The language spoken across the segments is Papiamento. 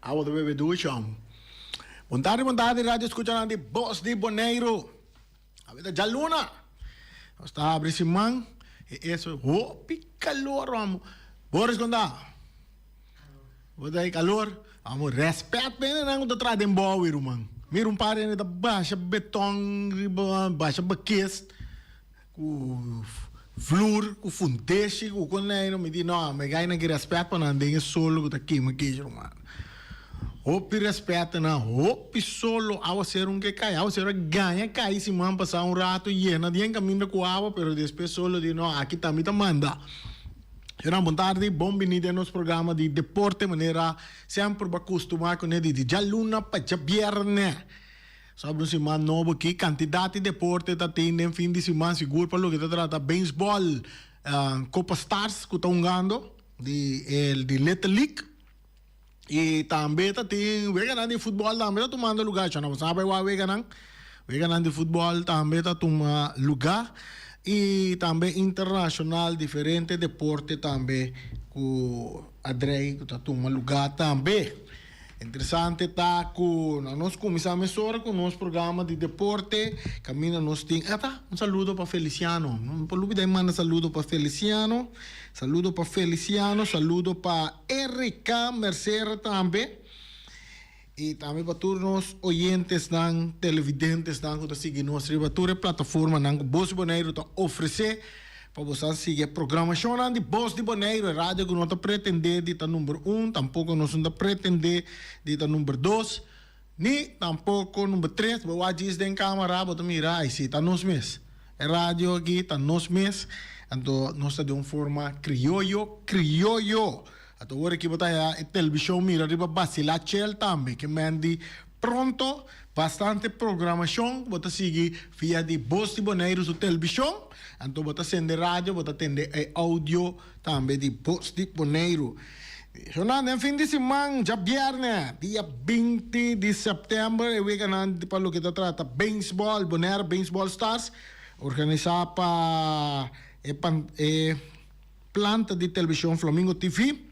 Awa ta bebe duchon. Bon tardi, bon tardi radio escuchanan di Bos di Boneiru. Awe ta djaluna. Nos ta abri siman. E eso hopi calor bo amo. Boris konta. Bo ta e calor. Amo respect pa hende nan ku ta traha den bowi ruman. Mira un par hende ta basha beton riba basha bakes. Ku flur, ku funteshi, ku koneinan, mi di, No, mi gai nan ki rèspèt pa nan den e solo ku ta kema kichi ruman. Hopi rèspèt ta nan, hopi solo. Awaseru no ke kai. Awaseru a gaña kai siman pasá un ratu yena dien kaminda ku awa, pero despues solo di, No, aki ta mi ta manda. Ciudadano, bon tardi. Bon bini den nos programa di deporte. Manera semper bo a kustumá kuné di djabluna pa djabièrnè. Sobre un siman nobo ki kantidat di deporte ta tin den fin di siman sigur pa loke ta trata beisbòl Copa Stars ku ta hungando di el di Little League i tambe ta tin weganan di futbòl tambe ta tumando lugá chua nan bo sa bai wak weganan weganan di futbòl tambe ta tuma lugá i tambe internashonal diferente deporte tambe ku adrei ku ta tuma lugá tambe. Interesante ta cu na nos cuminsá mesora cu nos programa di deporte, caminda nos tin, esta un saludo pa Feliciano, no me por lubida di manda saludo pa Feliciano, saludo pa Feliciano, saludo pa Erica Mercer tambe y tambe pa tur nos oyentesnan, televidentesnan cu ta sigui nos riba tur e plataformanan cu Bosch Boneiru ta ofrecé. Pa bo sa sigui e programashonnan di Bos di Boneiru, e radio ku no ta pretendé di ta number un, tampoko nos no ta pretendé di ta number dos, ni tampoko number tres. Bo wak djis den kamera, bo ta mira, ai si, ta nos mes. E radio aki ta nos mes. Anto nos ta den un forma krioyo, krioyo! A ta ora ki bo ta haya e telbishon mira riba Basila Chel tambe ke mènt di pronto bastante programashon bo ta sigui via di Bos di Boneiru su telbishon, anto bo ta sende radio bo ta tende e audio tambe di Bos di Boneiru. Jornada den fin di siman djabièrnè dia binti di sèptèmber e weganan pa loke ta trata Beinsbòl Bonaire Beinsbòl Stars organisá pa e e. Planta di Television Flamingo TV,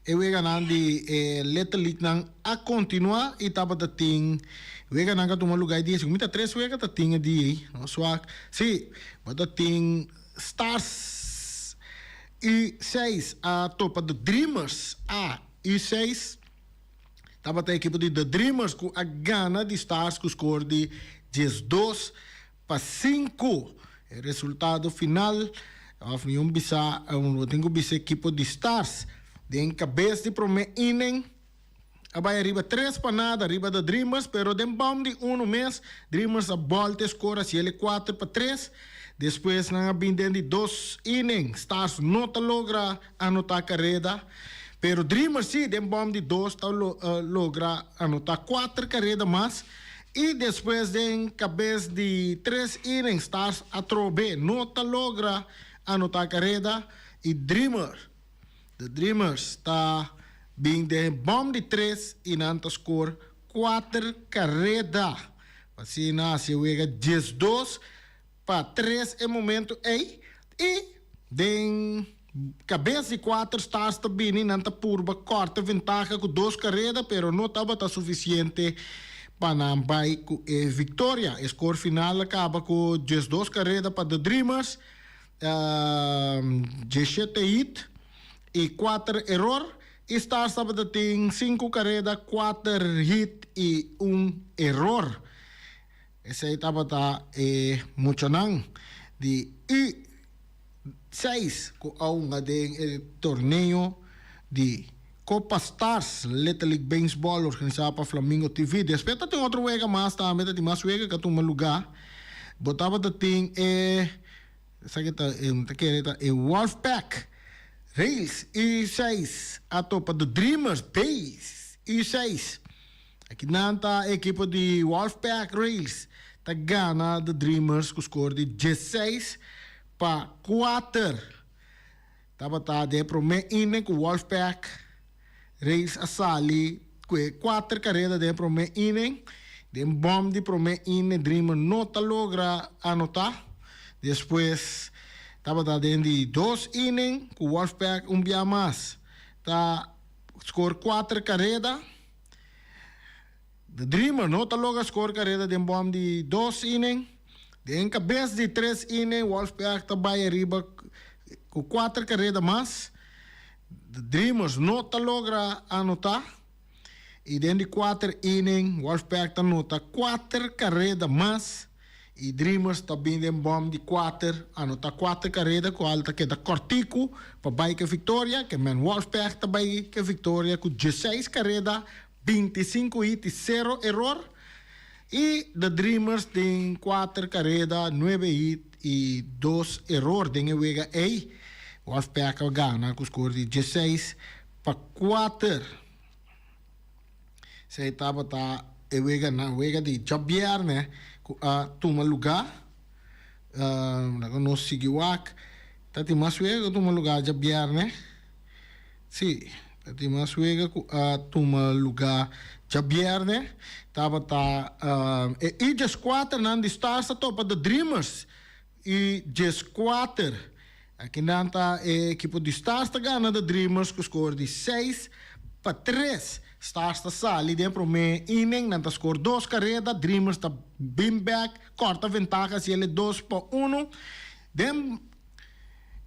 e weganan di e Little League nan a continua y tabata tin wega nan ka tuma luga y dije si cu mi ta tres wega ta tin e día ey, no suak, si, bo ta tin Stars y seis a topa The Dreamers A y seis tabata e ekipo di The Dreamers cu a gana di Stars cu score di diesdos. Pa sinku e resultado final of mi un bisa bo tin ku bisa ekipo di Stars den kabes di prome inen a bai ariba tres pa nada ariba da Dreamers pero den bom di uno mes Dreamers a bolta e skor a siel e kuater pa tres despues nan a bin den di dos inen Stars no ta logra anota kareda pero Dreamers si den bom di dos ta logra anota kuater kareda mas. I despues den kabes di tres inning Stars atrobe no ta logra anota kareda i Dreamer The Dreamers ta bin den e bòm di tres i nan ta skor kuater kareda pa asina hasi e wega diesdos pa tres e momento ey y den cabes di cuater stars ta bini nan ta purba corta ventaha cu dos careda pero no tabata suficiente pa nan bay cu e victoria. E score final a caba cu diesdos careda pa The Dreamers, dieschete hit y cuater error y stars tabata tin cinco careda, cuater hit y un error. Esei tabata e muchanan di U seis ku a hunga den e torneo di Copa Stars Little League Beisbòl organisá pa Flamingo TV. Despues ta tin otro wega mas tambe, ta tin mas wega ku a tuma lugá. Bo tabata tin e esaki e ta e mi ta kere ta e Wolf Pack Rails U seis a topa The Dreamers Bays U seis. Aki nan ta e ekipo di Wolfpack Rails ta gana The Dreamers ku skor di dieseis pa kuater. Tabata den e promé innen ku Wolfpack Rails a sali ku e kuater kareda den e promé innen. Den bòm di promé innen Dreamer no ta logra anotá. Despues tabata den di dos innen ku Wolfpack un bia mas ta skor kuater kareda. The Dreamer no ta logra skor kareda den bòm di dos inning. Den kabes di tres inning Wolfpack ta bai ariba ku kuater kareda mas. The Dreamers no ta logra anotá i den di kuater inning Wolfpack ta nota kuater kareda mas. E Dreamers ta bin den bòm di kuater, anota kuater kareda ku al ta keda kòrtiku pa bai ke viktoria. Kemen Wolfberg ta bai ke viktoria ku dieseis kareda, binti sinku hit i sero eror. I Da Dreamers den kuater kareda, nuebe hit i dos eror den e wega ei. Wolfberg a gana ku skor di dieseis pa kuater. Esei tabata e weganan, wega di djabièrnè ku a tuma lugá. Laga no nos sigui wak. Ta tin mas wega ku a tuma lugá djabièrnè. Sí, ta tin mas wega ku a tuma lugá djabièrnè. Tabata e Ija skuaternan di Stars ta topa The Dreamers. Y dje squater. Akinan ta e ekipo di Stars ta gana The Dreamers ku skor di seis pa tres. Stars ta sali den e promé inning, nan ta skor dos kareda, Dreamers ta bin bèk kòrta ventaha hasiele dos pa unu. Den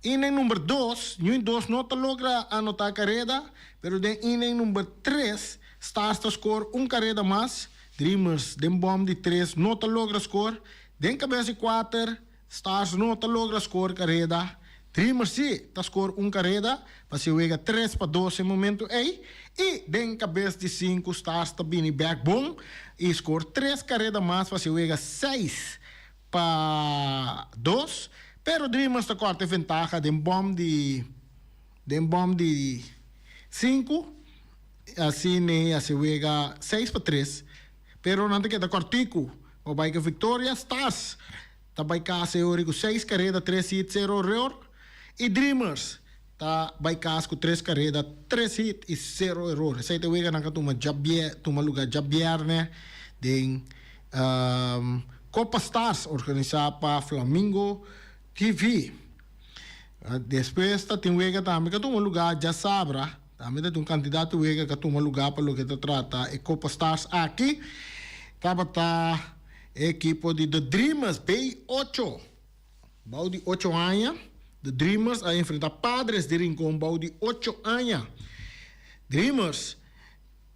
inning number dos, Ñui dos no ta logra anotá kareda, pero den inning number tres, Stars ta skor un kareda mas, Dreamers den bòm di tres no ta logra skor. Den kabes di kuater, Stars no ta logra skor kareda, Dreamers si ta skor un kareda pa si wega tres pa dos den momentu ei i den kabes di sinku Stars ta bini bek bon i skor tres kareda mas pa si wega seis pa dos pero Dreamers ta kòrta e ventaha den bòm di den bòm di sinku i asin a si wega seis pa tres pero nan ta keda kòrtiku. Bo bai ku Victoria Stas ta bai kas e ori ku seis kareda tres hit sero error i Dreamers ta bai kas ku tres kareda tres hit i sero error. Esei ta wega nan ka tuma djabiè tuma lugá djabièrnè den Copa Stars organisá pa Flamingo TV. Despues ta tin wega tambe ka tuma lugá djasabra. Tambe ta tin un kantidat wega ka tuma lugá pa loke ta trata e Copa Stars aki, tabata e ekipo di The Dreamers, Bay Ocho. Bou di ocho aña, The Dreamers a enfrentá Padres di Rincon bou di ocho aña. Dreamers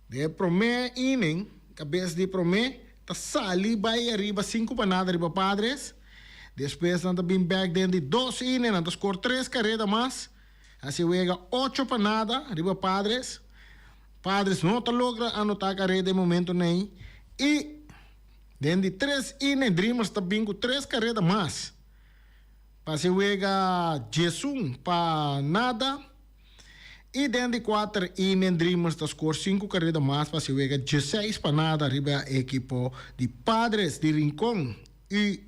den e promé inning, kabes di promé, ta sali bai ariba sinku pa nada riba Padres. Despues nan ta bin bèk den di dos inning, nan ta skor tres kareda mas. Hasi wega ocho pa nada riba Padres. Padres no ta logra anota careda e momento n'ey y den di tres ine Dreamers ta bin cu tres careda mas pa hasi wega diesun pa nada y den di cuater ine Dreamers ta score cinco careda mas pa hasi wega dieseis pa nada riba e ekipo di Padres di Rincon y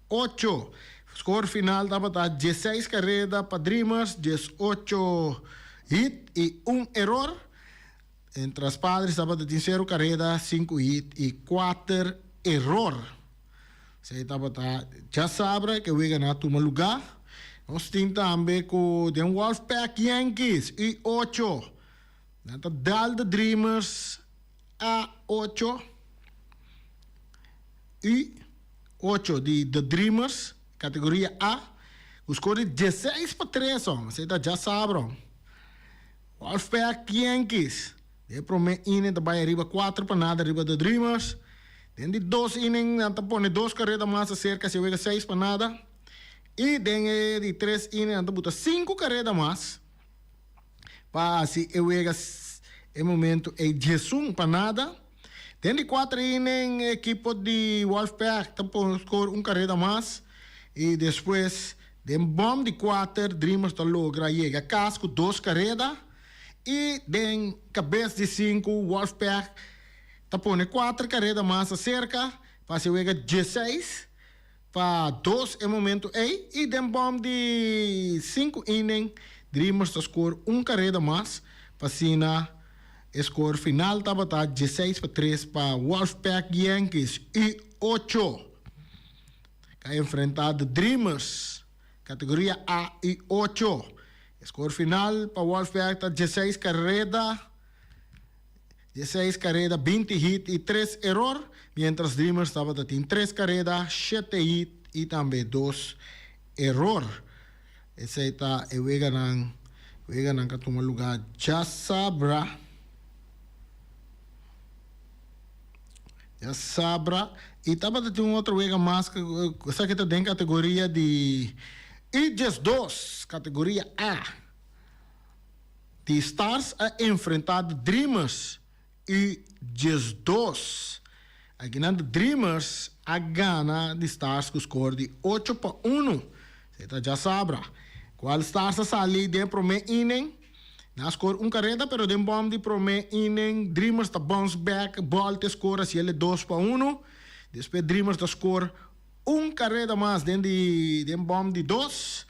ocho. Skor final tabata dieseis kareda pa Dreamers, diesocho hit i un eror. Mientras Padres tabata tin sero kareda, sinku hit i kuater eror. Esei tabata dja sabra ke wega nan a tuma lugá. Nos tin tambe ku den Wolfpack Yankees, i ocho. Nan ta Dalde Dreamers, a ocho y ocho di The Dreamers, categoria A, cu score di dieseis pa tres on, esey ta dja sabra. Wolfpack Yankees den e prome inning ta bay riba cuatro pa nada riba The Dreamers. Den di dos inning nan ta pone dos careta mas acerca si e wega seis pa nada y den e di tres inning nan ta buta cinco careta mas. pa haci e wega e momento ey diesun pa nada. Den di cuater y nen e ekipo di Wolfpack ta por score un careda mas y despues den bom di cuater Dreamers ta logra yega cas cu dos careda y den cabes di cinco Wolfpack ta pone cuater careda mas acerca pa haci e wega dieseis. pa dos e momento ey y den bom di sinku inning Dreamers ta scoor un careda mas p'asina e scoor final tabata dieseis pa tres pa Wolfpack Yankees y ocho ta enfrenta The Dreamers categoria A y ocho e scoor final pa Wolfpack ta dieseis careda. di e seis kareda binti hit i tres eror, miéntras Dreamers tabata tin tres kareda, shete hit i tambe dos eror. Esei ta e weganan. Weganan ka tuma lugá djasabra. Djasabra. I tabata tin un otro wega mas, esaki ta den kategoria di Idjes dos, kategoria A. Di Stars a enfrenta The Dreamers y diesdos. Akinan The Dreamers a gana di Stars cu score di ocho pa uno. Esei ta dja sabra. Cual Stars a sali den prome inning? Nan a score un careta pero den bom di prome inning Dreamers ta bounce back, bolte score haciele dos pa uno. Despues Dreamers ta score. Un kareda mas den di den bòm di dos.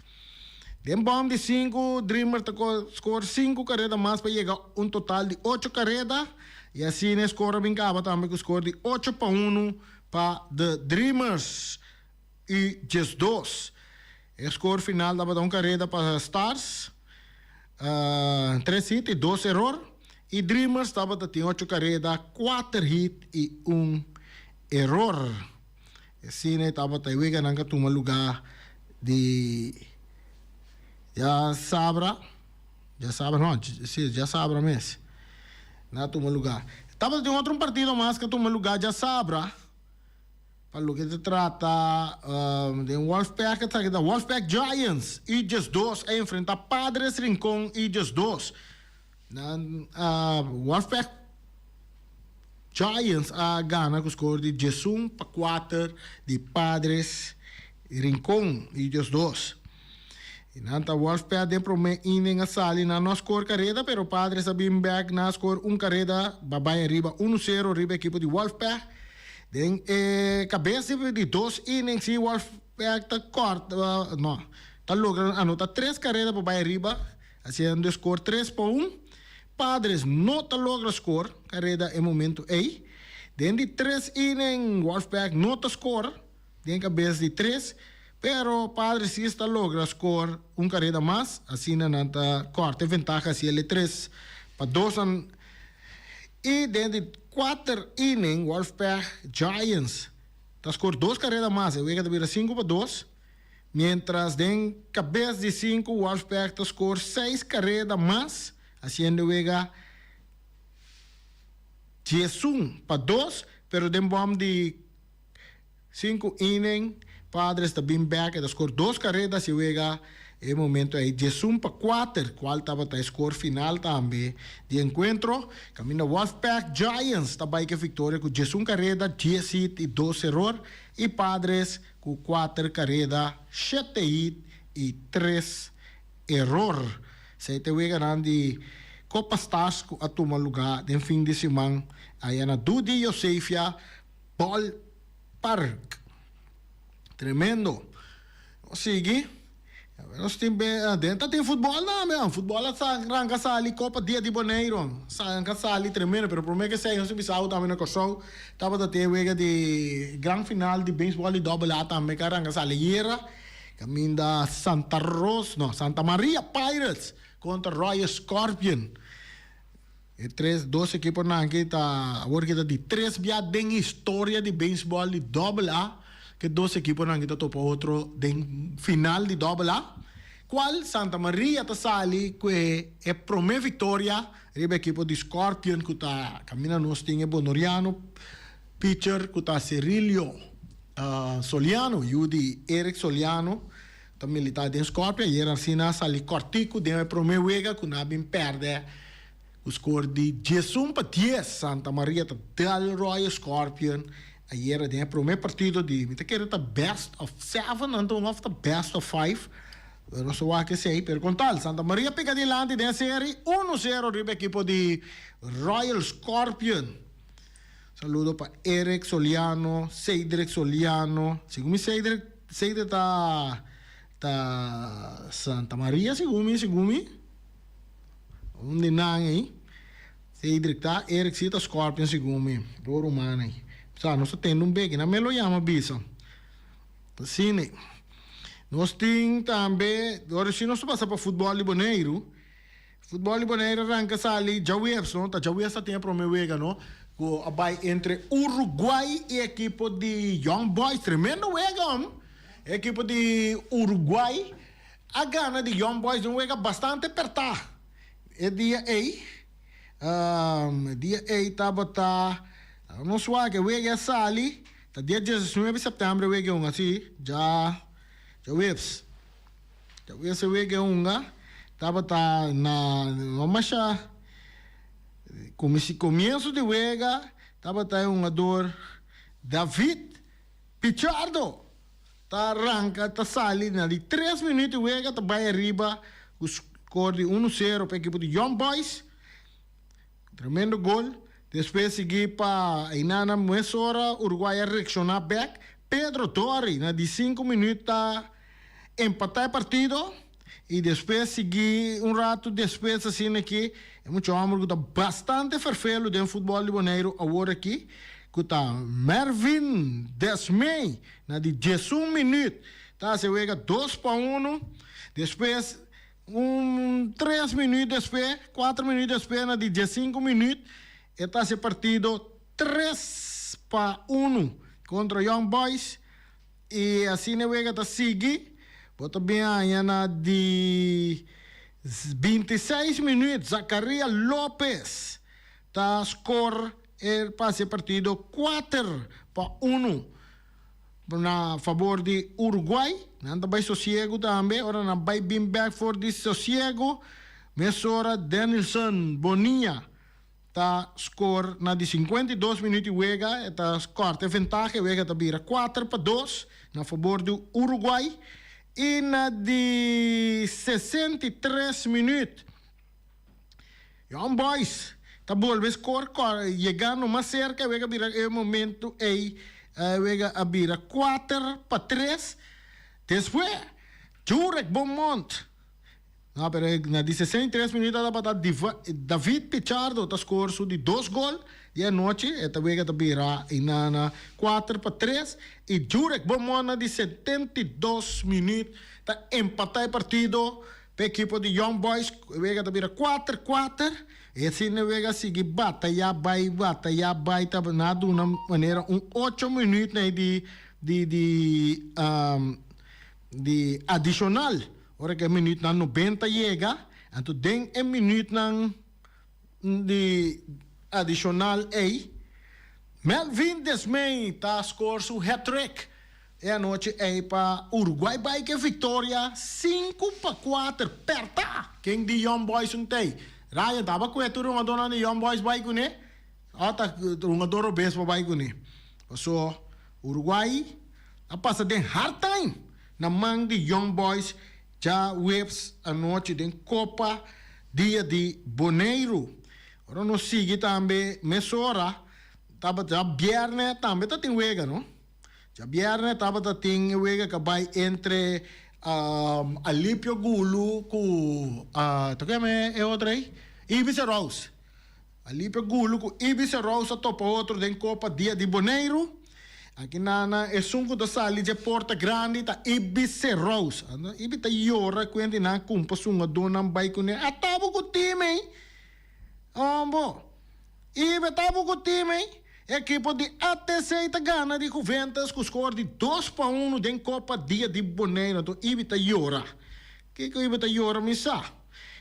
Den bòm di sinku Dreamer ta ko skor sinku kareda mas pa yega un total di ocho kareda i asina e skor a bin kaba tambe ku skor di ocho pa unu pa The Dreamers i djes dos. E skor final tabata un kareda pa Stars, tres hit i dos eror, i Dreamers tabata tin ocho kareda, kuater hit i un eror. E sina i tabata e wega nan ka tuma lugá di djasabra, djasabra no, si, djasabra mes, nan a tuma lugá. Tabata tin otro un partido mas ka tuma lugá djasabra pa loke ta trata den Wolfpack a tabata Wolfpack Giants, Utgers dos a enfrentá Padres Rincon, Utgers dos. Nan a warfek. Giants a gana ku skor di diesun pa kuater di Padres Rincon i Dios dos. I nan ta warfek den promé inning a sali nan no a skor kareda pero Padres a bin bek nan a skor un kareda pa bai ariba unu sero riba ekipo di warfek. Den e kabes di dos inning si warfek ta kort no ta logra anota tres kareda pa bai ariba. Hasiendo e scor tres pa un, Padres no ta logra scor careda e momento ey. Den di tres inning Wolfpack no ta scor den cabes di tres, pero Padres si es ta logra scor un careda mas, asina nan ta corta e ventaha haciel e tres pa dos an. Y den di cuater inning Wolfpack Giants ta scor dos careda mas, e wega ta bira cinco pa dos. mientras den cabes di sinku Wolfpack ta score seis careda mas haciendo wega diesun pa dos pero den bom di sinku inning Padres ta bin back e ta score dos careda haci wega e momento ey diesun pa cuater cual tabata e score final tambe di encuentro caminda Wolfpack Giants ta bay cu e victoria cu diesun careda dies hit y dos eror y Padres Ku kuater kareda, shete hit i tres eror, esei ta e weganan di Copa Stars ku a tuma lugá den fin di siman aya na Dudi Yosefia Ballpark. Tremendo! Nos sigui. Nos tin be aden ta tin futbol tambe an futbol a sa ranka sali copa dia di boneiro sa ranka sali tremendo pero prome ke seño si bisao tambe na Kòrsou tabata tin e wega di gran final di beisbòl di dobel a tambe ke a ranka sali ayera kaminda Santa Ros no Santa Maria Pirates kontra Royal Scorpion. E tres dos ekiponan aki ta awor aki ta di tres bia den historia di beisbòl di Doble A ku e dos ekiponan aki ta topa otro den final di Doble A, kual Santa Maria ta sali ku e promé viktoria riba e ekipo di Scorpion ku ta kaminda nos tin e bonoriano picher ku ta Serilio Soliano, yu di Eric Soliano. Ta militá den Skopje, ayer asina a sali kòrtiku den e promé wega ku nan a bin pèrdè ku skor di dies un pa dies. Santa Maria ta dal ròye Scorpion ayer den e promé partido di mi ta kere ta best of seven anto òf ta best of five, pero nos ta wak esei. Pero kon tal, Santa Maria pega dilanti den e seri uno sero riba e ekipo di Royal Scorpion. Saludo pa Eric Soliano, Seidrick Soliano, segun mi Seidrick Seidrick ta ta Santa Maria segun mi segun mi un di nan ey Seidrick ta Eric si ta Scorpion segun mi do ruman ey sa nos ta tende un beki nan me lo yama bisa ta sini nos tin tambe ora si nos ta pasa pa futbal di Boneiru. Futbol di Bonaire ranca sali djaweers no, ta djaweers ta tin e prome wega no, cu a bay entre Uruguay y e ekipo di Young Boys, tremendo wega homn, e ekipo di Uruguay a gana di Young Boys den un wega bastante aperta, e dia ey, um, e dia ey tabata, tabata un suak, e wega a sali, ta dia diesnuebe september e wega e un asi, dja, djaweers. Ta wia se wega e hunga tabata na no masha kumisi komienso di wega tabata e hungador David Pichardo ta ranka ta sali na di tres minut di wega ta bai ariba ku skor di unu sero pa ekipo di Young Boys. Tremendo gol, despues sigui pa Ainana mes ora Uruguay a reacciona bek, Pedro Torri na di sinku minuut ta empata e partido y despues sigui un ratu despues asina aki e mucha homber cu ta bastante fervelu den futbol di Boneiru awor aki cu ta Mervin Desmee na di diesun minuut ta haci e wega dos pa uno, despues Un tres minuut despues, cuatro minuut despues na di diescinco minuut e ta haci partido tres pa uno contra Young Boys y asina e wega ta sigui. Bo ta bin haya na di bintiseis minuut Zacaria Lopez ta score e pa haci partido cuater pa uno Na fabor di Uruguay. Nan ta bai sosiego tambe. Ora nan bai bin bek for di sosiego. Mesora Denilson Bonilla ta scor na di cincuenta y dos minuut di wega. E ta corta e ventaha. E wega ta bira cuater pa dos na fabor di Uruguay. Y na di sesenta y tres minuut. Young Boys ta bolbe scor cor yega no mas cerca e wega bira e momento ey e wega a bira cuater pa tres despues Jurek Beaumont no pero na di sesenta y tres minuto a tabata David Pichardo ta scor su di dos gol di anochi e ta wega ta bira eyna na cuater pa tres y Jurek Beaumont na di setenta y dos minuut ta empata e partido. Pa e ekipo di Young Boys e wega ta bira kuater kuater y asina e wega a sigui batayá bai batayá bai ta na a duna manera un ocho minuut na e di di di di adishonal ora ke e minuutnan nobenta yega anto den e minuutnan. di adishonal ei, Melvin Desmee ta skor su hat-trick e anochi ei pa Uruguay bai ke viktoria sinku pa kuater. Perta ken di Young Boys un tei. Ryan taba kue tur hungadornan di Young Boys bai kuné o ta hungador Obispo bai kuné. Paso Uruguay a pasa den hard time na man di Young Boys. Djaweps anochi den Copa dia di Boneiru. Ora nos sigui tambe mesora tabata djabièrnè tambe ta tin wega no. Djabièrnè tabata tin e wega ka bai entre Alipio Gulu ku ta ku yama e otro ei? Ibis e Rouse. Alipe Gulu ku Ibi Serous a topa otro den Kopa Dia di Boneiru. Aki nana esun ku ta sali dje porta grandi ta Ibi Serous. Ibi ta yora kuenda di nan kumpa sungadónan bai kuné. A ta bo ku tin mi? Hombo, Ibi a ta bo ku tin mi? E ekipo di ATC ta gana di Juventus ku skor di dos pa unu den Kopa Dia di Boneiru. Anto Ibi ta yora. Kiko Ibi ta yora mi sa.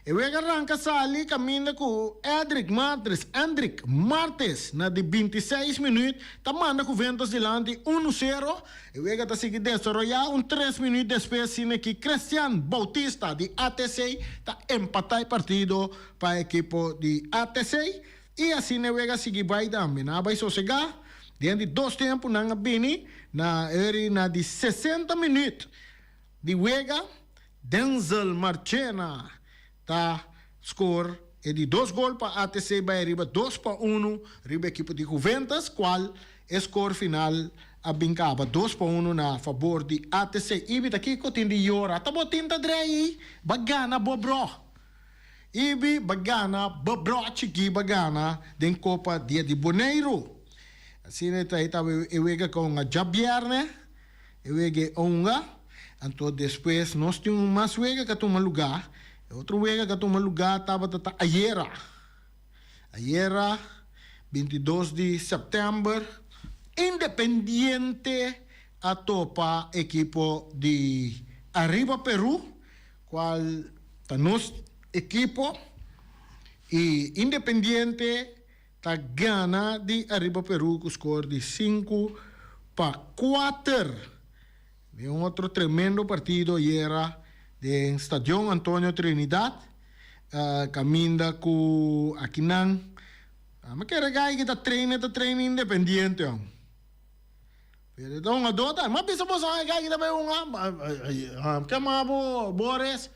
E wega a ranca sali caminda cu Edrick Martres, Endrick, Martes na di binti i seis minuut ta manda Juventus dilanti unu sero. E wega ta sigui desaroya un tres minuut despues scine ki Christian Bautista di ATC ta empata e partido pa e ekipo di ATC i asina e wega a sigui bay tambe. Nan a bay sosega den di dos tempo nan a bini na ori na di sesenta minuut. Di wega, Denzel Marchena ta skor e di dos gol pa ATC bai ariba dos pa unu riba ekipo di Juventus, kual e skor final a bin kaba dos pa unu na fabor di ATC. Ibi ta kiko tin di yora? Ta bo tin ta dreyi? Ba gana bo bro! Ibi ba gana bo bro chikí ba gana den Copa dia di Boneiru. Asina e ta e wega kon a djabièrnè. E wega e onga, anto despues nos tin un mas wega ka tuma luga, e otro wega ka tuma luga tabata ta ayera, ayera bintidos di sèptèmber Independiente a topa ekipo di Arriba Peru kual ta nos ekipo i Independiente. ta gana di ariba Peru cu score di sinku pa kuater den un otro tremendo partido ayera den Stadion Antonio Trinidad caminda cu akinan a mi kere gai ki ta traina ta traina independiente on. Pero e don a dota, M'a bisa bo sa e gay ki ta bay unga, M'a kema bo bores,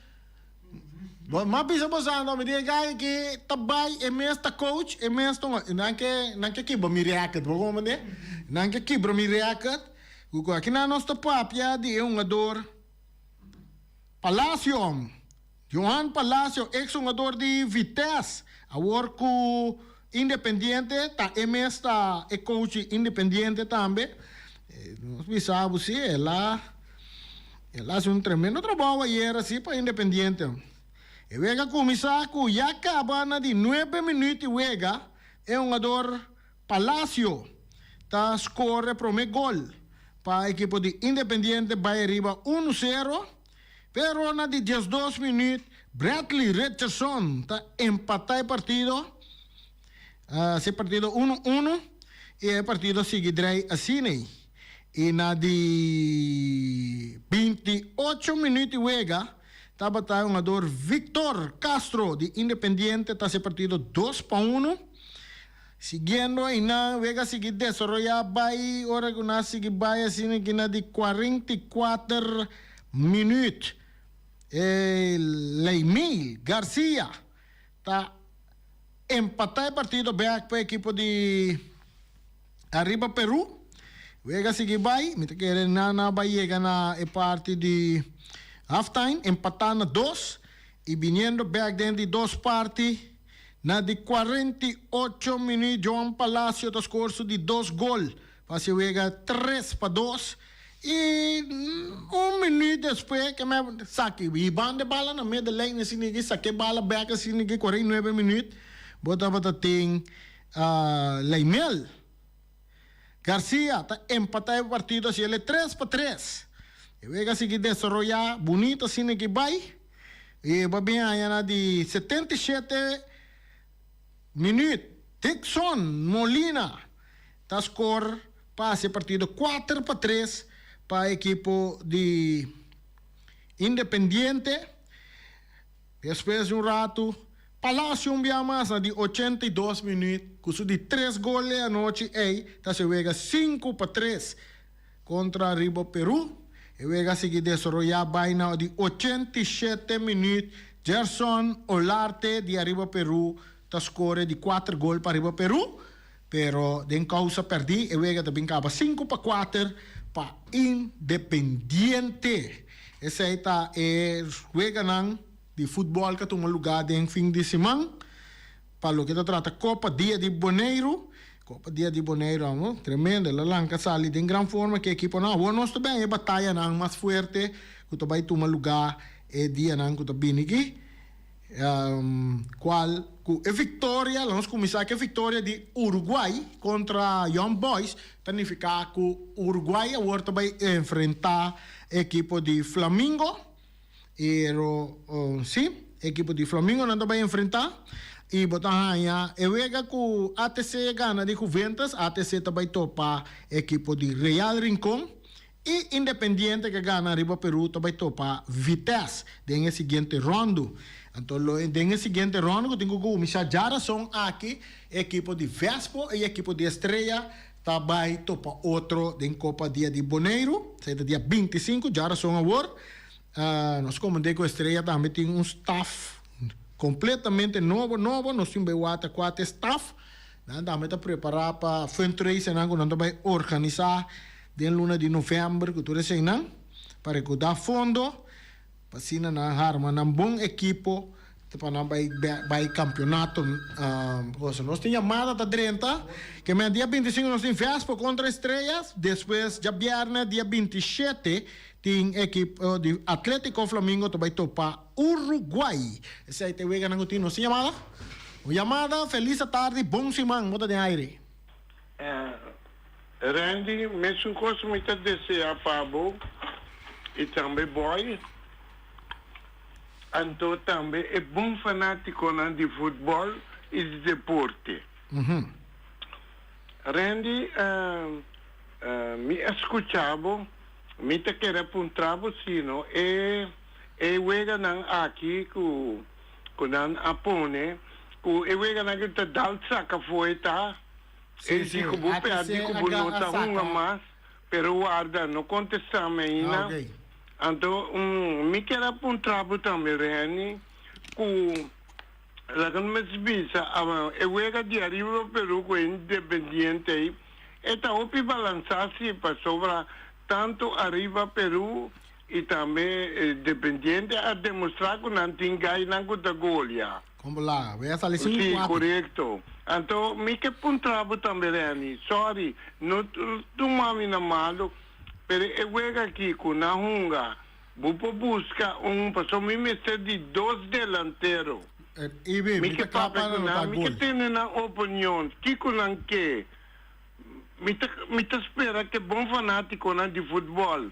M'a bisa bo sa anto mi di e gay ki ta bay e mes ta coach, e mes ta unga, nan ke nan ke kiba mi record, bo comprende? Nan ke kibra mi record, ku aki nan nos ta papia di e ungador Palacio. Johan Palacio, ex hungador di Vitesse, awor ku Independiente, ta e mes ta e coach di Independiente tambe. Nos bisa bo si, el a el a hasi un tremendo trabou ayer asi pa Independiente. E wega kuminsá ku ya kaba na di nuebe minüt di wega, e hungador Palacio ta skor e promé gol pa ekipo di Independiente bai ariba unu sero. Pero na di diesdos minuut Bradley Richardson ta empata e partido, hasi e partido uno uno y e partido sigui draai asiney y na di binti ocho minuut di wega tabata hungador Victor Castro di Independiente ta hasi e partido dos pa uno. Siguiendo eynan, wega sigui desaroyá bai, ora cu nan sigui bai asina ki na di cuarenta y cuater minuut. E Leymil Garcia ta empatá e partido bek pa e ekipo di Arriba Peru. Wega sigui bai, mi ta kere nan a bai yega na e parti di halftime, empatá na dos y biniendo bek den di dos parti, Na di cuarenta y ocho minuut Johan Palacio ta scoor su di dos gol pa haci e wega tres pa dos y un minuut despues ke mep saki hiban de bala na mid de lijn e significa y sake bala back e significa cuarenta y nuebe minuut bo tabata tin Leimel. Garcia ta empata e partido así el e tres pa tres. E wega a sigui desaroyá bunito asina aki bai y e bai bin haña na di setenta i shete minuut Dickson Molina ta score pa haci e partido kuater pa tres pa e ekipo di Independiente. Despues di un ratu, Palacio un bia mas na di ochenta i dos minuut cu su di tres gol e anochi ey ta haci e wega sinku pa tres. Contra riba Peru, e wega sigui desaroya bay na di ochenta i shete minuut, Gerson Olarte di ariba Peru ta score di cuater gol pa ariba Peru. Pero den causa perdi e wega ta bin caba sinku pa kuater pa Independiente. Esey ta e weganan di futbol cu a tuma lugar den fin di siman pa loke ta trata Copa Dia di Boneiru. Copa Dia di Boneiru amo tremendo, el a lanca sali den gran forma ki ekiponan. Awor nos ta bay e batayanan mas fuerte cu ta bay tuma lugar e dianan cu ta bini aki. cual cu e victoria, la nos cuminsa cu e victoria di Uruguay contra Young Boys, ta nifica cu Uruguay awor ta bay enfrenta e ekipo di Flamingo, y si, e ekipo di Flamingo nan ta bay enfrenta, y bo ta haya e wega cu ATC gana di Juventus, ATC ta bay topa e ekipo di Real Rincon. Y Independiente ke gana riba Peru ta bai topa Vitesse den e siguiente rondo. Anto lo e den e siguiente rondo ku tin ku kuminsha dja rason aki e ekipo di Vespo y e ekipo di Estrella ta bai topa otro den Copa dia di Boneiru. Esei ta dia binti i sinku dja rason awor. Nos komand'E ku Estrella tambe tin un staf completamente nobo nobo. Nos tin bai wata kuater staf. Nan tambe ta prepará pa fundraisenan ku nan ta bai organisá den luna di novèmber ku tur eseinan pa rekudá fondo pa asina nan arma nan bon ekipo pa nan bai bai kampionato kos. Nos tin yamada ta drenta kemen dia binti sinku nos tin vèspò kontra Estrellas, despues djabièrnè dia binti shete tin ekipo di Atlético Flamingo ta bai topá. Uruguay. Esei ta e weganan ku tin nos. Tin yamada? Un yamada, Felis atardi, bon siman, bo ta den aire. Randy, mesun kos mi ta desea pa bo i tambe boy, anto tambe e bon fanatikonan di futbòl i di deporte. Randy, mi a skucha bo, mi ta kere puntra bo si no e. e weganan aki ku ku nan a pone ku e weganan ku ta dal tsak afoe ta Sí, e sí, di ku bo aki pèrdí se ku bo no ta hunga saka. mas, pero warda no kontestáme aina. Ok. Anto mi kier a puntrá bo tambe Renny ku laga no mes bisa a e wega di ariba pa Perú ku e Independiente ei e ta hopi balansá si pasobra tantu ariba Perú Y tambe e dependiente a demostra cu nan tin gainan cu ta golia. Con bo laga. Bo ya sali sin un cuate. Si, corecto. Anto, mi ke puntra bo tambe Renny, sorry, no tuma mi na malo, pero e wega aki cu nan hunga, bo por busca un, pasobra mi mester di dos delantero. Even, mi ta cla pa nan no ta gol. Mi ke tene nan opinion, kico nan ke. Mi ta spera ke bon fanaticonan di futbol.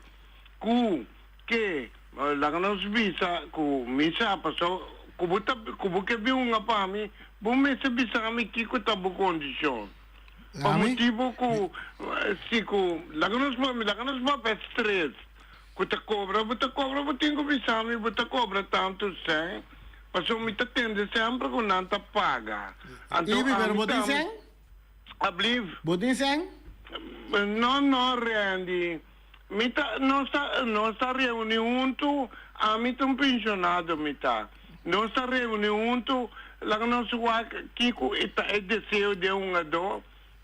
ku, ke, laga nos bisa ku mi sa pa so ku bo ta ku bo ke bin hunga pa mi, bo mester bisa mi kiko ta bo kondishon. Pa motibu ku si ku laga nos pa mi laga nos papia stres ku ta kobra bo ta kobra bo tin ku bisa mi bo ta kobra tantu sèn pasobra mi ta tende sèmpre ku nan ta paga anto ami ta bo tin sèn? Ablief? Bo tin sèn? No no Randy. Mi ta, nos ta, nos ta reuni huntu, ami ta un pensionado, mi ta. Nos ta reuni huntu, laga nos wak kico e ta e deseo di e hungadó,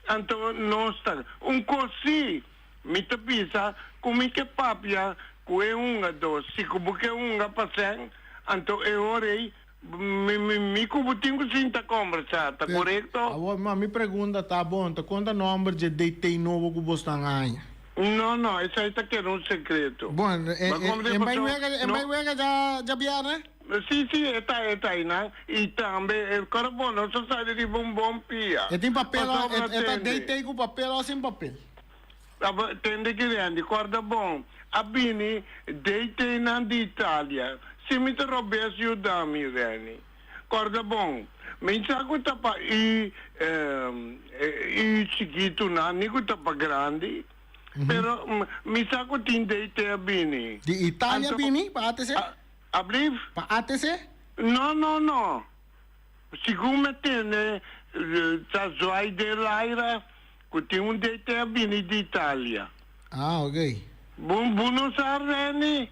anto nos ta. Un cos si, mi ta bisa, cu mi ke papia cu e hungadó, si cu bo ke hunga pa sèn, anto e hora ei, Mi cu bo tin cu sinta combersa, ta corecto? Awor, ma mi pregunda ta, bon, ta conta nomber dje date nobo cu bos nan haña? No, no, esai ta keda un secreto. Bon, e bai wega, e bai wega dja djabièrnè? Si, si, e ta, e ta ainan. I tambe, e kòrda bon, nos a sali riba un bon pia. E tin papel, e ta date cu papel o sin papel? Tabata e tende grandi, kòrda bon, a bini dei teinan di Italia, si mi ta robes yuda mi, Renny. Kòrda bon, mi sa ku ta pa i, i chikitu nan, ni ku ta pa grandi, pero mi sa ku tin dei te a bini. Di Italia bini pa atc? Ablief? Pa atc? No, no, no. Segun me tende, ta Zwai de Laira ku tin un DT a bini di Italia. Ah, ok. Bo, bo no sa Renny?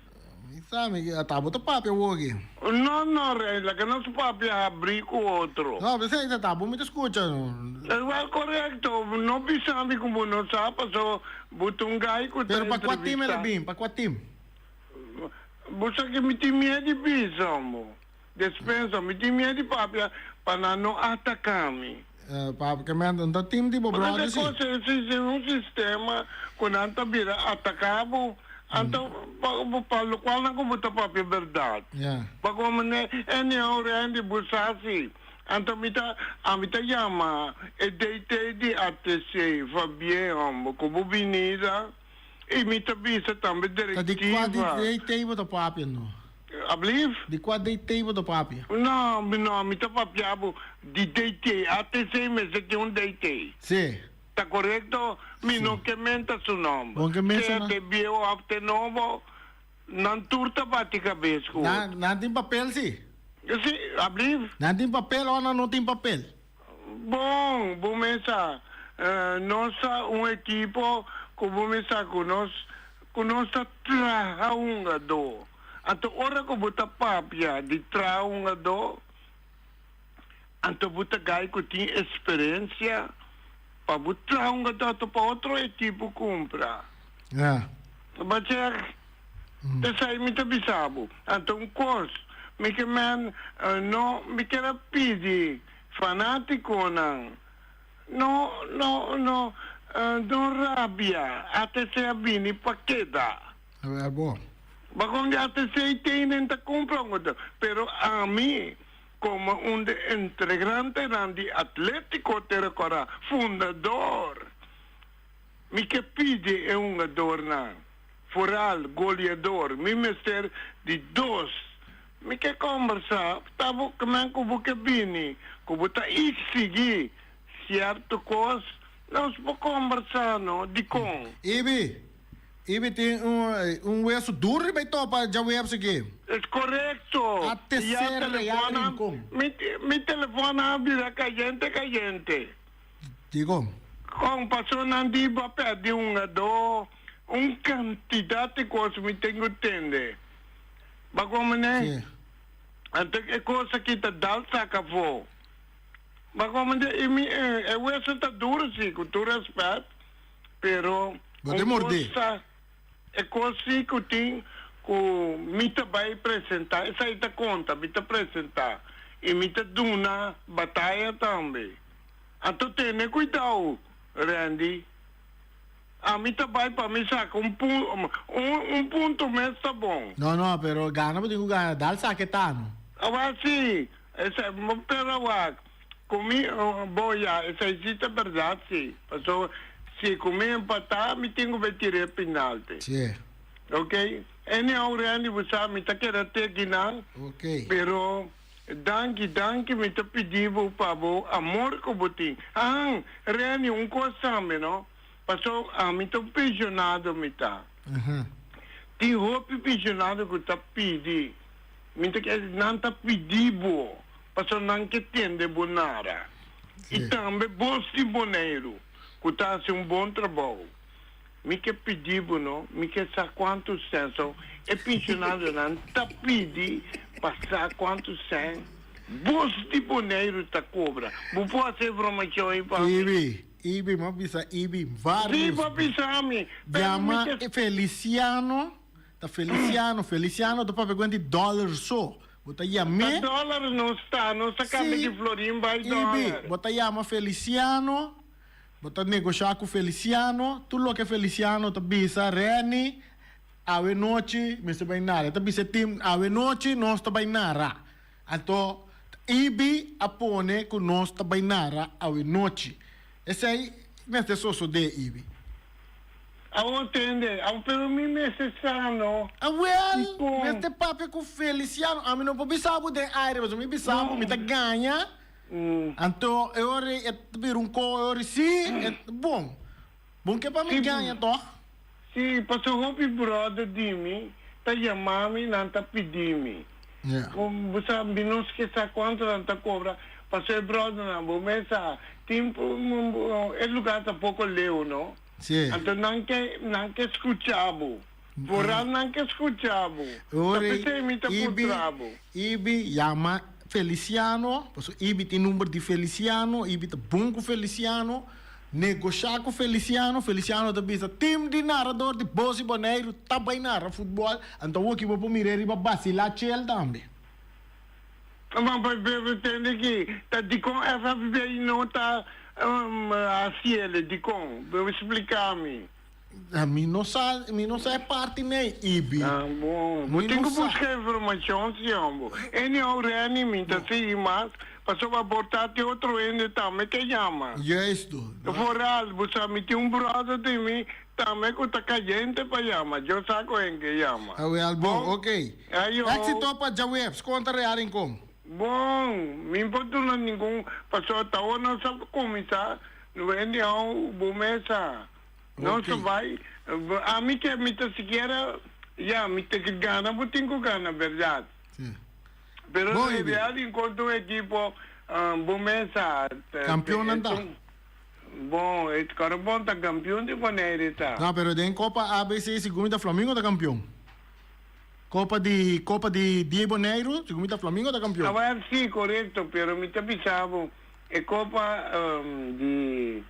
Mi sa, mi ke, ata bo ta papia awoke? No, no, Renny, laga nos papia habri ku otro. No, mi sa, ata bo mi ta skucha, no. Ewa, korekto, bo no bisa mi ku bo no sa, paso bo ta un gai ku ta entrevistá. Pero pa kua tim el a bin? Pa kua tim? Bo sa ke mi tin mié di bisa, hombo. Despensa, mi tin miet di papia pa nan no ataka mi. Papia, Ke menta, no ta tim di bo bròder si? Bo ta kos esi sin un sistema ku nan ta bira ataka bo anta pa lokual nan ku bo ta papia bèrdat. Pa kon manera anyhow Randy bo sa si anta mi ta ami ta yama e DT di ATC Fabie homber ku bo binida i mi ta bisa tambe direktiva. Ta di kua DT bo ta papia no? Ablief? Di kua DT bo ta papia? No, mi no, mi ta papia bo di DT, ATC mester tin un DT. Se. Ta korekto? Mi no ke menta su nomber. Bon ke menta Sea nan. te bieho of te nobo, nan tur ta bati kabes ku otro. Nan, nan tin papel si. Si, ablief? Nan tin papel o nan no tin papel? Bon, bo mesa nos ta un ekipo ku bo mesa ku nos ku nos ta traha hungadó. Anto ora ku bo ta papia di traha hungadó, anto bo ta gai ku tin eksperensia pa bo traha hungadó anto pa otro ekipo kumpra. Bo ta. P'esei mi ta bisa bo, anta un kos, mi ke men no mi ker a pidi fanatikonan no no no no rabia, ATC a bini pa keda. A wer bo. Ba kon di ATC i tei nen ta kumpla un oto, pero ami komo un de entegrantenan di Atletico te rekorda, fundador, mi ke pidi e hungadornan. Foral, Goliador, mi mester di dos. Mi ke kombersá ta bo kmen ku bo ke bini, ku bo ta iksigí sierto kos. Nos por kombersá no. Dikon? Ibi, Ibi tin un weso dur riba e topa djaweps aki. Es korekto. Mi ya telefòn a, mi telefòn a bira kayente kayente. Dikon? Kon pasonan di bo a pèrdí un adó? Un cantidad di cosa mi tin cu tende. Bak un mane. Anto e cosa aki ta dal sak afo. Bak un mane y mi e hueso ta duro si, cu tur respet, pero un cosa, e cos si cu tin cu mi ta bay presenta, esaki ta conta, mi ta presenta y mi ta duna bataya tambe. Anto tende cuidao, Randy. Ami ta bai pa mi saca un punto, un punto mes ta bon. No, no, pero gana bo tin cu gana, dal saca e tano. Awak si, esai, pero awak, cu mi, bo ya, esai si ta berdad si, pasobra si cu mi empata mi tin cu bai tira e pinalte. Si. Ok, anyhow Randy, bo sa mi ta keda teki nan, pero. Danki, danki, mi ta pidi bo pa bo amor cu bo tin. Ahan, Renny, un cos tambe, no? Paso ami ta un pensionado mi ta. Tin hopi pensionado cu ta pidi, mi ta kier nan ta pidi bo, paso nan ke tende bo nada. Y tambe bos tin Boneiru, cu ta haci un bon trabou. Mi ke pidi bo no, mi ke sa kuantu sèn. So, e pinshonarionan ta pidi pa sa kuantu sèn bos di Boneiru ta kobra. Bo por hasi e bromashon ei pa mi? Ibi, Ibi, m'a bisa Ibi varios. Si, bo a bisa ami, pero mi ke. Llama Feliciano, ta Feliciano, Feliciano ta papia kuenti dòler so, bo ta yam'é. Ta dòler nos ta, nos ta kamba di Florin bai dòler. Si, Ibi, bo ta yama Feliciano. Bo ta negosha ku Feliciano. Tur loke Feliciano ta bisa Renny, Awe nochi mester bai nara. E ta bisa e tim, Awe nochi nos ta bai nara. Anto EB a pone ku nos ta bai nara awe nochi. Esei mester sosodé, EB. Awor tende. Awor pero mi mester traha no. Awel, mester papia ku Feliciano. Ami no por bisa bo den aire pasobra mi bisa bo mi ta gaña. Anto e ora e ta bira un koe, e ora si e ta bon. Bon ke pa mi gaña tòg. Si, paso hopi bròder di mi ta yama mi, nan ta pidi mi. Bo sa, mi nos ke sa kuantu nan ta kobra, paso e bròdernan bo mes sa, tin e lugar ta poko leu, no? Anto nan ke nan ke skucha bo. Borannan ke skucha bo, ta p'esei mi ta puntra bo. Ibi yama Felisiano, paso Ibi tin number di Felisiano, Ibi ta bon ku Felisiano, negoshá ku Felisiano, Felisiano ta bisa, Tim di narador di Bosi Boneiru ta bai nara futbòl, anto awor ki bo por mira e riba basilá chel tambe. Taman pa Pedro tende ki ta dikon FFB no ta hasiele, dikon? Bo spliká mi. Mi no sa, mi no sa e parti n'ey, Ibi. Ta bon. Bo tin cu busca informacion, si yo bo. Anyhow, Renny, mi ta sigui mas, pasobra por ta te otro hende tambe ke yama. Juist tu. Vooral, bo sa mi tin un brother den mi tambe cu ta cayente pa yama. Yo sa cu hen ke yama. Awel, bon. Oké. Éxito pa djaweps. Conta real rincon. Bon, mi por duna ningun, pasobra ta ora nos a kuminsá, no bai hende hou bo mesa. Nos a bai, ami ke mi ta sikiera, ya, mi tin ku gana, bo tin ku gana, bèrdat. Pero e real di enkuentro un ekipo, bo mesa. Kampionnan ta. Bon, e Karabon ta kampion di Bonaire ta. No, pero den kopa ABC sigur mi ta Flamingo ta kampion. Copa di Copa di Diebo Negro, segun mi ta fla mi no ta campeon. Awor si, corecto, pero mi ta bisa bo e copa di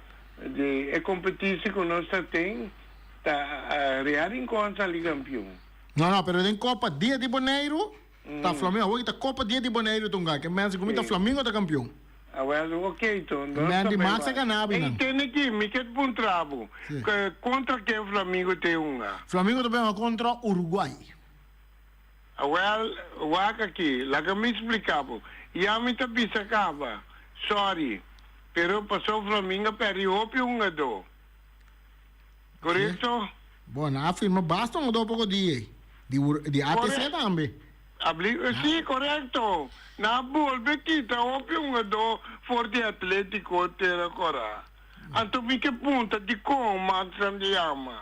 di e competici cu nos ta ten ta Real Rincon sali campeon. No no, pero den copa Dia di Boneiru ta fla mi awor ki ta copa Dia di Boneiru ta un gana, ke mensen cu mi ta fla mi no ta campeon. A wèl, ok to, no ta bay wak. Ey tene ki, mi ke ta puntra bo, kontra ken Flamigo ta e hunga? Flamigo ta bay hunga kontra Uruguay. A wèl, wak aki, laga mi splika bo. Ya mi ta bisa kaba, sòri, pero pasó Flamingo a pèrdí hopi hungadó. Korekto. Bo na a firma basta un odo poko di ei. Di wur, di ATC tambe. Abli, si, korekto. Na a bolbe kita hopi un odo for di Atletiko te Rokorá. Anto mi ke punta dikon Maxan ta yama.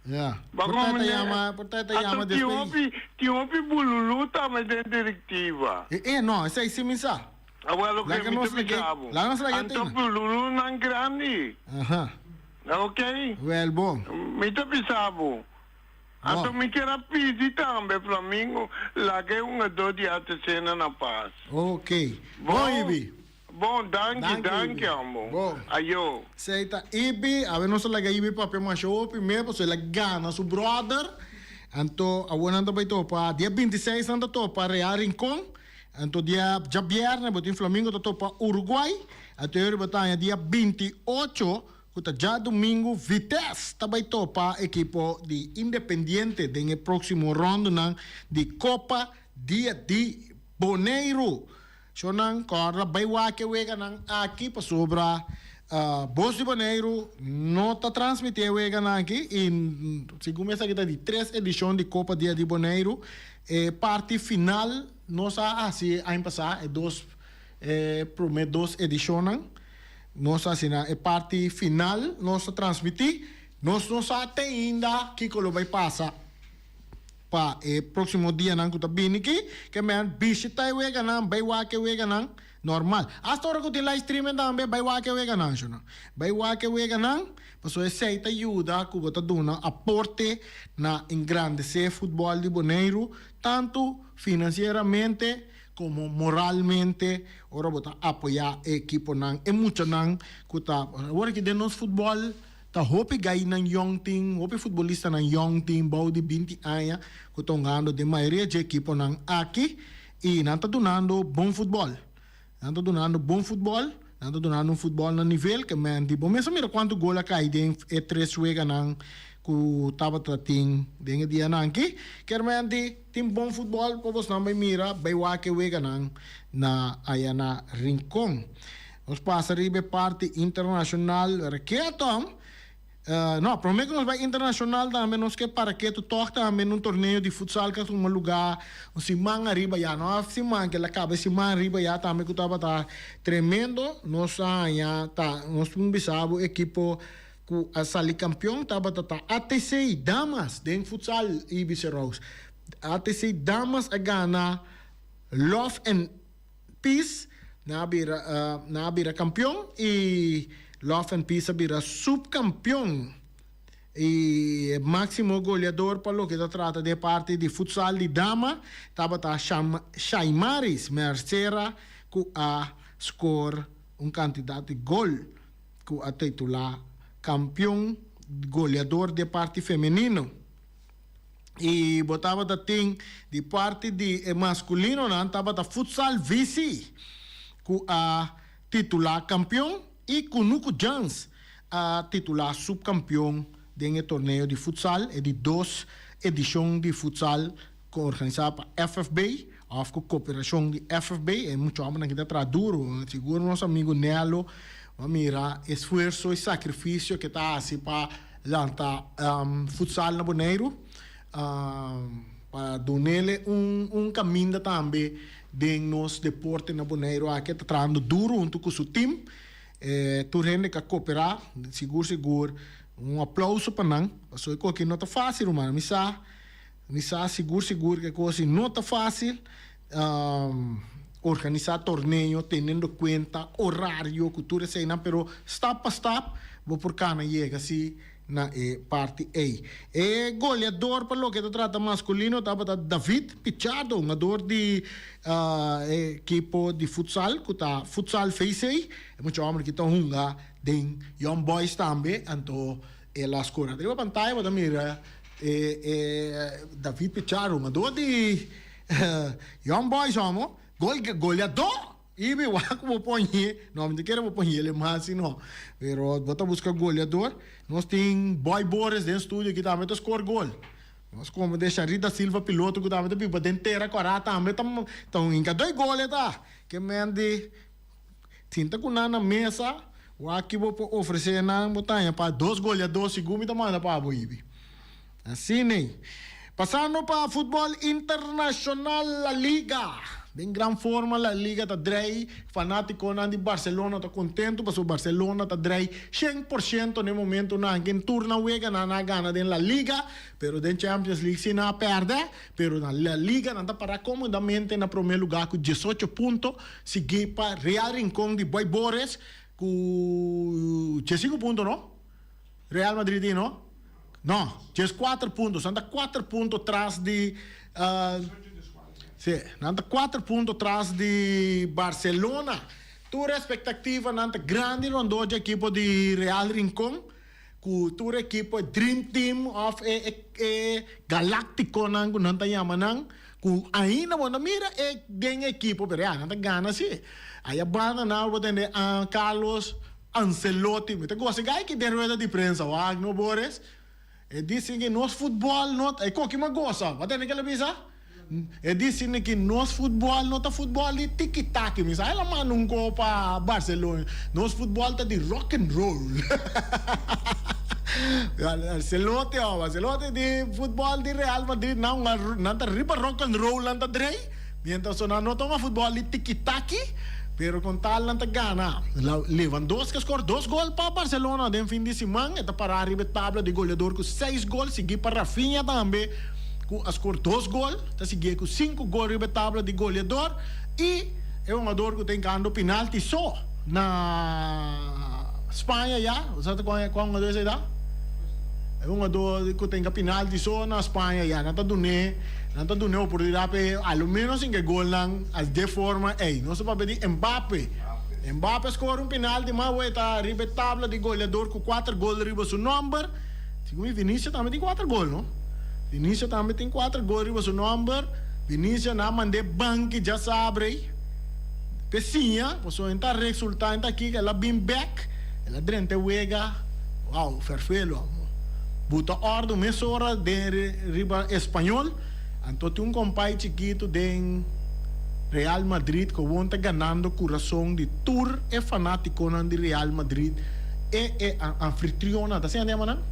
Ya. Bo ta, ta yama, bo ta, ta yama despues di. Anto tin hopi, tin hopi bululú tambe den direktiva. E, e, no, esei si mi sa. Awor lo ke mi ta bisa abo. Anto bululunan grandi. Oke. Mi ta bisa abo. Anto mi kier a pidi tambe Flamingo laga e hungadó di Artesena na pas. Bon. Danki, danki amo. Ayo. Sei ta Ibi. Awe nos a laga Ibi papia masha hopi me paso el a gana su brother. Anto awor nan ta bai topa dia binti seis nan ta topa Real Rincon. Anto dia djabièrnè bo tin Flamingo ta topa Uruguay. Anterior bo ta haña dia binti ocho, ku ta djadumingu, Vitesse ta bai topa ekipo di Independiente den e próksimo ròndonan di Copa Dia di Boneiru. Shornan, kòrda, bai wak e weganan aki pasobra Bos di Boneiru no ta transmití e weganan aki i segun mi esaki ta di tres edishon di Copa Dia di Boneiru. E parti final nos a hasi e aña pasá, e dos e promé dos edishonnan, nos asina e parti final nos ta transmití. Nos no sa te ainda kiko lo bai pasa pa e próksimo dianan ku ta bini. Ke ke mester bishita e weganan, bai wak e weganan. Normal. Hasta ora cu tin live streaming tambe bay wak e weganan, sho no? Bay wak e weganan, pasobra esey ta yuda cu bo ta duna un aporte na engrandece futbol di Boneiru, tanto financieramente como moralmente, ora bo ta apoya e ekiponan, e muchanan cu ta. Awor aki den nos futbol ta hopi gaynan yong tin, hopi futbolistanan yong tin, bou di binti aña, cu ta hungando den mayoria dje ekiponan aki. I nan ta dunando bon futbòl. Nan ta dunando bon futbòl. Nan ta dunando un futbòl na nivel ke men di. Bo mes a mira kuantu gol a kai den e tres weganan ku tabata tin den e dianan aki. Kermenti tin bon futbòl pa bosnan bai mira, bai wak e weganan na aya na Rincon. Nos pasa riba e parti internashonal, wèrakié aton. No, prome cu nos bay internacional tambe nos ke para ketu tog tambe en un torneo di futsal cu a tuma luga un siman ariba ya. No a siman kila, caba e siman ariba ya tambe cu tabata tremendo. Nos a haña ta, nos tin bisa bo ekipo cu a sali campeon tabata ta ATC damas den futsal Ibiza Rose. ATC damas a gana Love en. Peace nan a bira nan a bira kampion i Love and Peace a bira supkampion i e máksimo goleador pa loke ta trata di e parti di futsal di dama tabata Sham Shaimaris Mercera ku a skor un kantidat di gol ku a titulá kampion goleador di e parti femenino. y bo tabata tin di parti di e masculinonan tabata Futsal Visi cu a titula campeon y Cunucu Giants a titula subcampeon den e torneo di futsal, e di dos edicion di futsal cu organisa pa FFB. Òf ku koperashon di FFB, e muchu hòmbernan ki ta traha duru. Sigur nos amigu Nello a mira e sfuerso, e sakrifisio ku e ta hasi pa lanta futsal na Boneiru, pa dun'el'e un kaminda tambe den nos deporte na Boneiru aki. E ta trahando duru huntu ku su tim. Tur hende ku a koperá, sigur sigur un aplauso pa nan, pasobra e koki'e no ta fásil, ruman. Mi sa. Mi sa sigur sigur ku e kosin no ta fásil organisá torneo teniendo kuenta orario ku tur eseinan pero stap pa stap bo por kana yega si na e parti ei. E goleador pa loke ta trata maskulino tabata David Pichado un hador di e ekipo di futsal ku ta Futsal VC. E mucha hòmber aki ta hunga den Young Boys tambe anto E las cora riba pantaya bo ta mira e e David Pichardo un ador di Young Boys amo gol goleador y mi wak cu bo poñe no mi ta kere bo poñe el e mas si no pero bo ta busca goleador nos tin Boy Boris den studio aki tambe ta score gol nos como den Sharit Da Silva piloto cu tambe ta biba den tera cora tambe ta ta un hinca doi gol e ta ke ment di Sinta ku nan na mesa, wak bo por ofresé nan bo taña pa dos goleadó sigun mi ta manda pa bo hibi. Asina ei. Pasando pa futbol internashonal La Liga. Den gran forma La Liga ta drai, fanátikonan di Barselona ta kontentu pasobra Barselona ta drai shen por shento na e momentu. Nan a gana tur na weganan nan a gana den La Liga, pero den Champions League si nan a pèrdè, Pero na La Liga nan ta pará komodamente na promé lugá ku diesocho punto, sigui pa Real Rincon di Boy Boris ku diesinku punto, no? Real Madrid tin, no? No, dieskuater punto. So nan ta kuater punto tras di, sí, nan ta kuater punto tras di Barcelona. Tur e spektaktivanan ta grandi rondó dje ekipo di Real Rincon. Ku tur ekipo, e dream team òf e e galáktikonan ku nan ta yama nan, ku ainda bo no mira e den ekipo, pero ya, nan ta gana sí. Ahí a banda nan bo ta tende a Carlos Ancelotti. Mi ta gosa e gay ki den rueda di prensa, Wagno Borges. E di sin ke nos futbòl no ta e koki mas gosa. Bo a tende ke lo bisa? E di Sidney ki nos futbòl no ta futbòl di tiki-taki mi sa e lo manda un kò pa Barcelona nos futbòl ta di rock and roll Ancelotti oh Ancelotti di futbòl di Real Madrid nan nan ta riba rock and roll nan ta drei mientras so nan no ta un futbòl di tiki-taki pero con tal nan ta gana Lewandowski a scora dos gol pa Barcelona den fin di siman e ta para riba e tabla di goleador cu seis gol sigui pa Raphinha tambe. ku a skor dos gol, ta sigié ku sinku gol riba e tabla di goleador i e hongador ku ta hinkando penalti so na Spaña ya. Bo sa ta kua hongador esei ta? E hongador ku ta hinka penalti so na Spaña ya. Nan ta dun'é, nan ta dun'é oportunidat p'e alo menos hinka e golnan as de forma ei. Nos ta papia di Mbappe. Mbappe a skora un penalti, mas awor e ta riba e tabla di goleador ku kuater gol riba su nòmber. Tin un y Vinicius tambe tin cuater gol no. Vinicius tambe tin cuater gol riba su nomber. Vinicius na mande banki dja sabrey pe siña pasobra en ta resulta en ta kiko el a bin back el a drenta e wega wow ferfelo amo buta orde un mesora den riba español. Anto tin un compay chikito den Real Madrid cu awor ta ganando curason di tur e fanaticonan di Real Madrid, e e anfitrionnan, ta asina nan llama nan?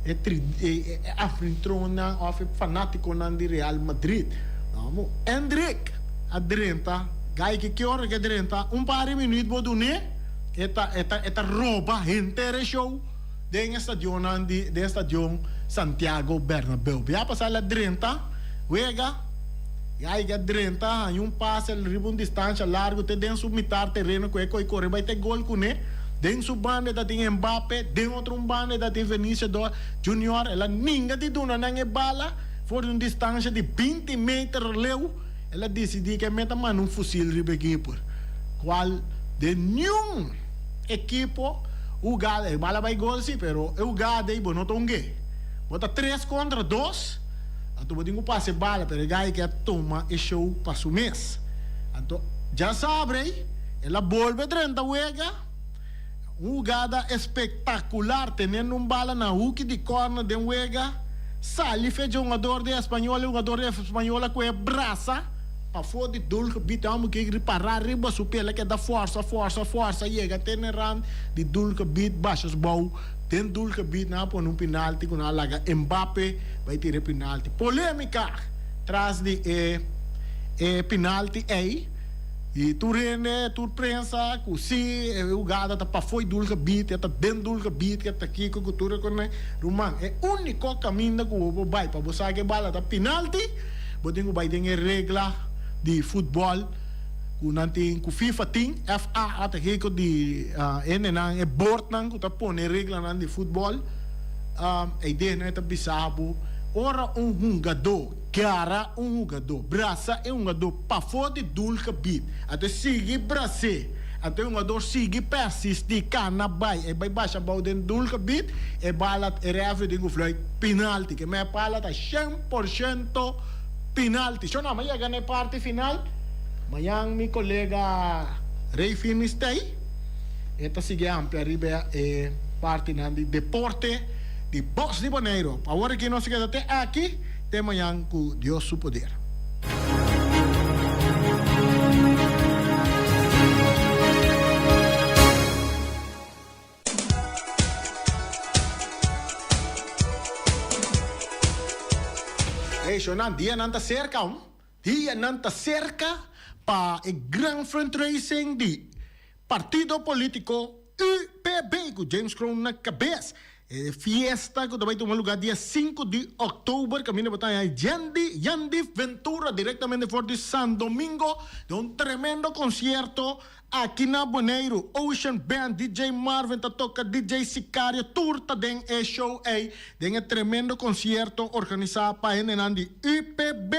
e tri e e anfitrionnan of e fanaticonan di Real Madrid, amo, Endrick a drenta, guy ki kior a ke drenta un par di minuut bo do ne, e ta e ta e ta roba henter e show. den estadionnan di den estadion Santiago Bernabeu. Bia pasa el a drenta wega i aiga a drenta haña un pase riba un distansha largu te den su mitar tereno ku e ko'i kore bai te gol kuné. Den su banda e ta tin Mbappe, den otro un banda e ta tin Venicio do Junior. El a ninga di duna nan e bala for di un distansha di binti meter leu. El a disidí ku e meta manda un fusil riba e keeper, kual den niun. ekipo hugada e bala bai gol si pero e hugada ei bo no ta hungu'e bo ta tres kontra dos anto bo tin ku pasa e bala pero e gaya ke a tuma e show pa su mes anto dja sabrei el a bolbe drenta wega un hugada espektakular tenendo un bala na huki di kòrner den wega sali fecha hungador di Espanyol e hungador di Espanyol a kohe brasa. Pafó di Dulg Bit Amo Gig Ripará Riba Su Pela Ke Da Forsa Forsa Forsa Yega Te Na Rand di Dulg Bit Bashas Bou Den Dulg Bit Nan A Pone Un Pinalti Ku Nan A Laga Mbappe Bai Tira E Pinalti Polémika Tras Di E E Pinalti Ei I Tur Hende Tur Prensa Ku Si E Hugada Ta Pa Foi Dulg Bit Ya Ta Den Dulg Bit Ya Ta Kiko Ku Tur Rekoné Ruman E Úniko Kaminda Ku Bo Por Bai Pa Bo Sa Ke Bala Ta Pinalti Bo tin ku bai den e regla di futbòl ku nan tin, ku fifa tin. FA a ta hekot di hendenan, e bòrtnan ku ta pone e reglanan di futbòl. Ei dei nan e ta bisa bo, ora un hungadó gara un hugadó, brasa e hungadó pafó di doelgebied, a ta sigui bras'é, a ta e hungadó sigui pèrsistí kana bai, ei bai basha abou den doelgebied, e bal a, e rèfri tin ku flùit pinalti. Ke mei bal a ta. por shento pinalti. Sho nan, mi a yega na e parti final. Mañan mi kolega Rey Firmi stay. E ta sigui ampi ariba e partinan di deporte di Box di Boneiru. Pa awor aki nos a keda te aki, te mañan ku Dios su poder. Hey shownan dia nan ta cerca ho. Dia nan ta cerca pa e gran fundraising di partido politico UPB cu James Kroon na cabez. E fiesta cu ta bay tuma lugar dia sinku di october caminda pa taña Yandy Yandy Ventura directamente for di Sandomingo den un tremendo concierto Aki na Boneiru, Ocean Band, DJ Marvin ta toka DJ Sicario tur ta den e show ey den e tremendo concierto organisa pa hendenan di UPB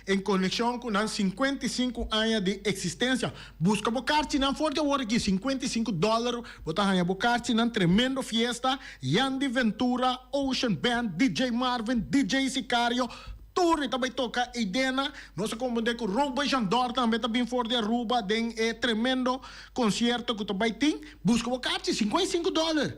en conecion cu nan cincuenta y cinco aña di existencia. Busca bo carchinan for di awor aki, cincuenta y cinco dollar bo ta haya bo carchinan tremendo fiesta Yandy Ventura, Ocean Band, DJ Marvin, DJ Sicario, Torre ta bay toca Eidena. Nos a comprende cu Robert Jandor tambe ta bin for di Aruba den e tremendo concierto cu ta bay tin. Busca bo carchi, cinco i cinco dollar.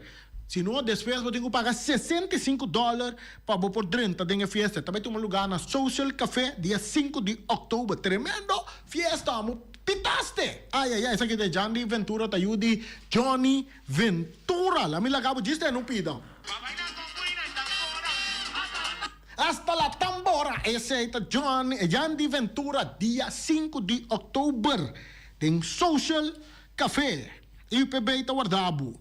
Si no, despues bo tin cu paga sesenta i cinco dollar pa bo por drenta den e fiesta. E ta bay tuma lugar na Social Café dia cinco di October. Tremendo fiesta amo! Pitaste! Ay, ay, ay, esaki ta e Jandi Ventura ta yu di Johnny Ventura. Lami laga bo djis den un pida. Hasta la tambora esey ta John Yandy Ventura dia sinku di October den Social Café UPB ta warda bo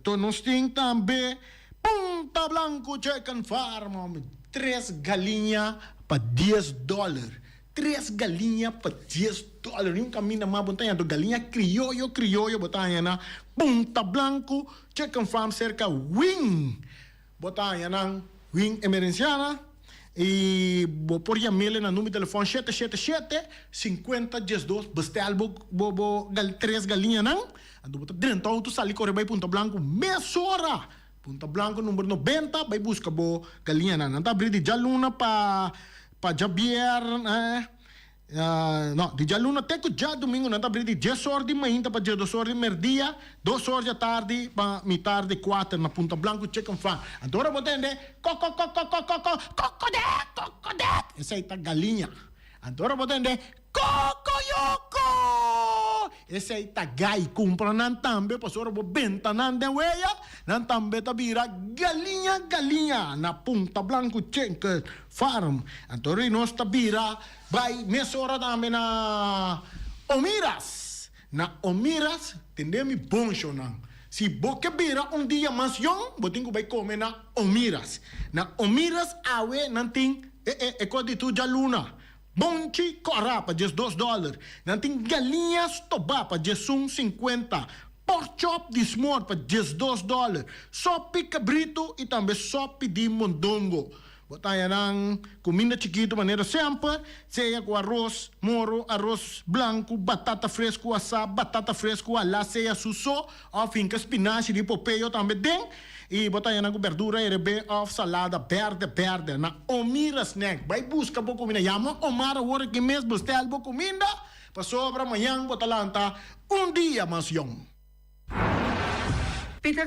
to nos tin tambe Punta Blanco Chicken Farm hombre tres galiña pa dies dollar tres galiña pa dies dollar ni un caminda mas bo ta haña do galiña crioyo crioyo bo ta haña na Punta Blanco Chicken Farm cerca Wing. Bo ta haña nan win emerensianan i bo por yam'e na number telefòn shete shete shete sinkuenta diesdos. Bestèl bo bo bo tres galiñanan anto bo ta drenta outo sali kore bai Punta Blanku mesora. Punta Blanku number nobenta bai buska bo galiñanan. Nan ta abrí di djaluna pa pa djabièrnè No, di djaluna te ku djadumingu nan ta abri di dies or di mainta pa diedos or di merdia, dos or djatardi pa mitardi, kuater na Punta Blanku Chicken Farm. Anto ora bo tende kòkòkòkòkòkòkò, kòkòdèk, kòkòdèk, esei ta galiña. Anto ora bo tende kòkòyòkò, Esei ta gai cumpra nan tambe, pasobra ora bo benta nan den wea, nan tambe ta bira galiña galiña na Punta Blanco Chicken Farm. Anto ri nos ta bira bai mesora tambe na Omiras. Na Omiras tende mi bon shownan. Si bo ke bira un dia mas yon, bo tin cu bai come na Omiras. Na Omiras awe nan tin e e e cos di tu djaluna. Bonchi kòrá pa djes dos dòler. Nan tin galiña stobá pa djesun sinkuenta, pòrk chòp di smòr pa djes dos dòler, sòpi kabritu i tambe sòpi di mondongo. Bo ta haña nan kuminda chikitu manera semper, sea ku aros moro, aros blanku, batata fresku asá, batata fresku halá, sea su so, Of finca spinaci di popeo tambe den y bo ta haya nan cu berdura erbé of salada berde berde na Omira Snack. Bay busca bo cuminda. Yama Omar awor aki mes bestel bo cuminda pasobra mañan bo ta lanta un dia mas yong. Peter